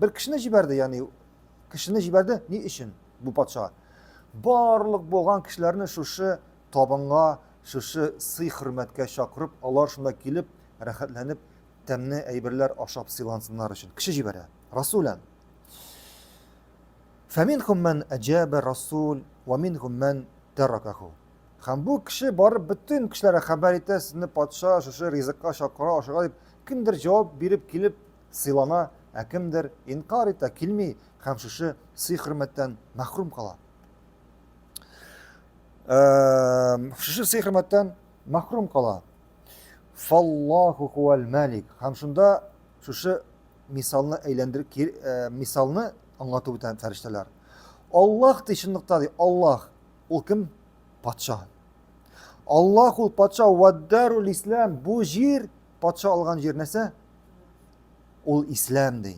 Бер кешене җибәрде, яни кешене җибәрде ни өчен бу патша? Барлык булган кешеләрне шушы табынга, шушы сый хөрмәткә чакырып, алар шунда килеп, рәхәтләнеп, тәмне әйберләр ашап сыйлансыннар өчен. Кеше җибәрә. Расулән. Фәминхум мән әҗәбә расул ва минхум мән тәракаху. Һәм бу кеше барып бөтен кешеләргә хәбәр итә, сезне патша шушы ризыкка чакыра, ашыга дип, кемдер җавап биреп килеп, Сыйлана, ә кемдер инкар итә, килми һәм шушы сый-хөрмәттән мәхрүм кала. Шушы сый-хөрмәттән мәхрүм кала. Фаллаху хуал малик. Һәм шунда шушы мисалны әйләндер э, мисалны аңлатып үтә фәрештәләр. Аллаһ ди чынлыкта ди, Аллаһ ул кем? Патша. Аллаһ ул патша, ваддарул ислам. Бу җир Патша алган җир нәрсә? Ул ислам ди.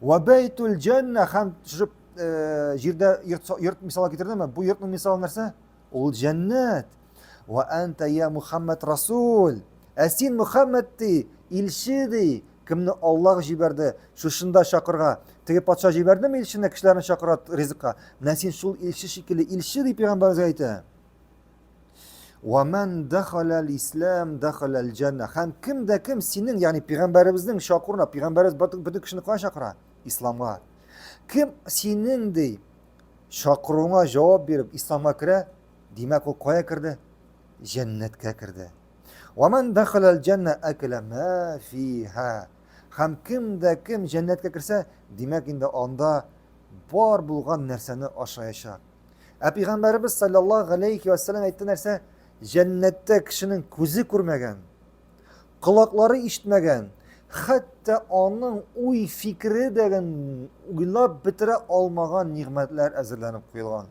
Ва байтул җанна һәм шушы э, җирдә йорт, йорт мисалы китердеме? Бу йортның мисалы нәрсә? Ул җәннәт. Ва анта я Мухаммад Расул. Ә син Мухаммад ди, илче ди. Кемне Аллаһ җибәрде, шушында чакырга. Теге патша җибәрдеме илчене, кешеләрне чакыра ризыкка? Менә син шул илче шикелле, илче ди пәйгамбәргә әйтә. Ва мән дахаләл ислам дахаләл җәннә. Һәм кем дә кем синең, ягъни пигамбәребезнең чакыруына, пигамбәребез бөтен кешене кая чакыра? Исламга. Кем синең ди чакыруыңа җавап биреп исламга керә, димәк ул кая керде? Җәннәткә керде. Ва мән дахаләл җәннә акла ма фиһа. Һәм кем дә кем җәннәткә керсә, димәк инде анда бар булган нәрсәне ашаячак. Ә пәйгамбәребез саллаллаһу алейхи ва саллям әйтте нәрсә? Җәннәттә кешенең күзе күрмәгән, колаклары ишетмәгән, хәтта аның уй фикере дә уйлап бетерә алмаган нигъмәтләр әзерләнеп куелган.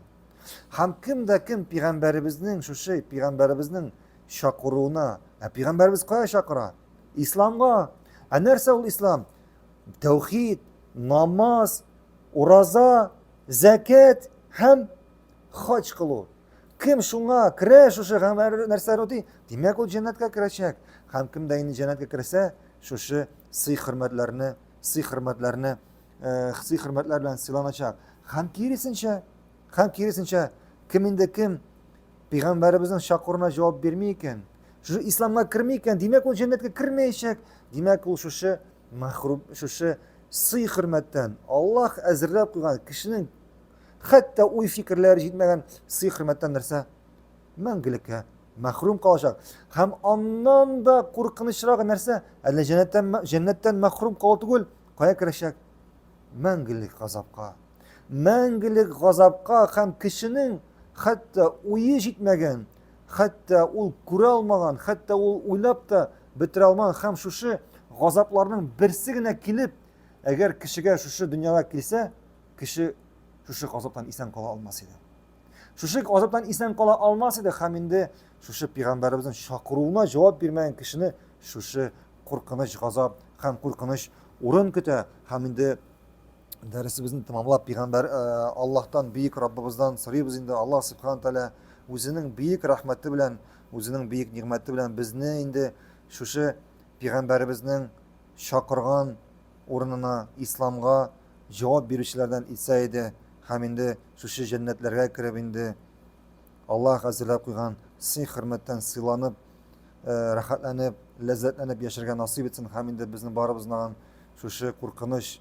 Һәм кем дә кем пәйгамбәребезнең шушы пәйгамбәребезнең чакыруына, ә пәйгамбәребез кая чакыра? Исламга. Ә нәрсә ул ислам? Тәүхид, намаз, ураза, Зәкят һәм хаҗ кылу. Кем шуңа керә, шушы һәм нәрсәләр үти, димәк, ул җәннәткә керәчәк. Һәм кем дә инде җәннәткә керсә, шушы сый-хөрмәтләрне, сый-хөрмәтләрне, э, сый-хөрмәтләр белән сыйланачак. Һәм киресенчә, һәм киресенчә, кем инде кем пәйгамбәребезнең чакыруына җавап бирми икән, шушы исламга керми икән, димәк, ул җәннәткә кермәячәк. Димәк, ул шушы Мәхрүм шушы сый-хөрмәттән Аллаһ әзерләп куйган кешенең хәтта уй-фикерләре җитмәгән сый-хөрмәттән нәрсә? Мәңгелеккә мәхрүм калачак. Һәм аннан да куркынычрагы нәрсә? Әллә җәннәттән җәннәттән мәхрүм калу түгел, кая керәчәк? Мәңгелек газапка. Мәңгелек газапка һәм кешенең хәтта уе җитмәгән хәтта ул күрә алмаган, хәтта ул уйлап та бетерә алмаган һәм шушы газапларның берсе генә килеп, әгәр кешегә шушы дөньяга килсә, кеше шушы газаптан исән кала алмас иде. Шушы газаптан исән кала алмас иде һәм инде шушы пигамбәребезнең чакыруына җавап бирмәгән кешене шушы куркыныч газап һәм куркыныч урын көтә һәм инде дәресебезне тәмамлап пигамбәр э, аллаһтан бөек раббыбыздан сорыйбыз инде аллаһ субхан тәала үзенең бөек рәхмәте белән үзенең бөек нигъмәте белән безне инде шушы пигамбәребезнең чакырган урынына исламга җавап бирүчеләрдән итсә иде һәм инде шушы җәннәтләргә кереп инде аллаһ әзерләп куйган сый хөрмәттән сыйланып э, рәхәтләнеп ләззәтләнеп яшәргә насыйп итсен һәм инде безнең барыбызны шушы куркыныч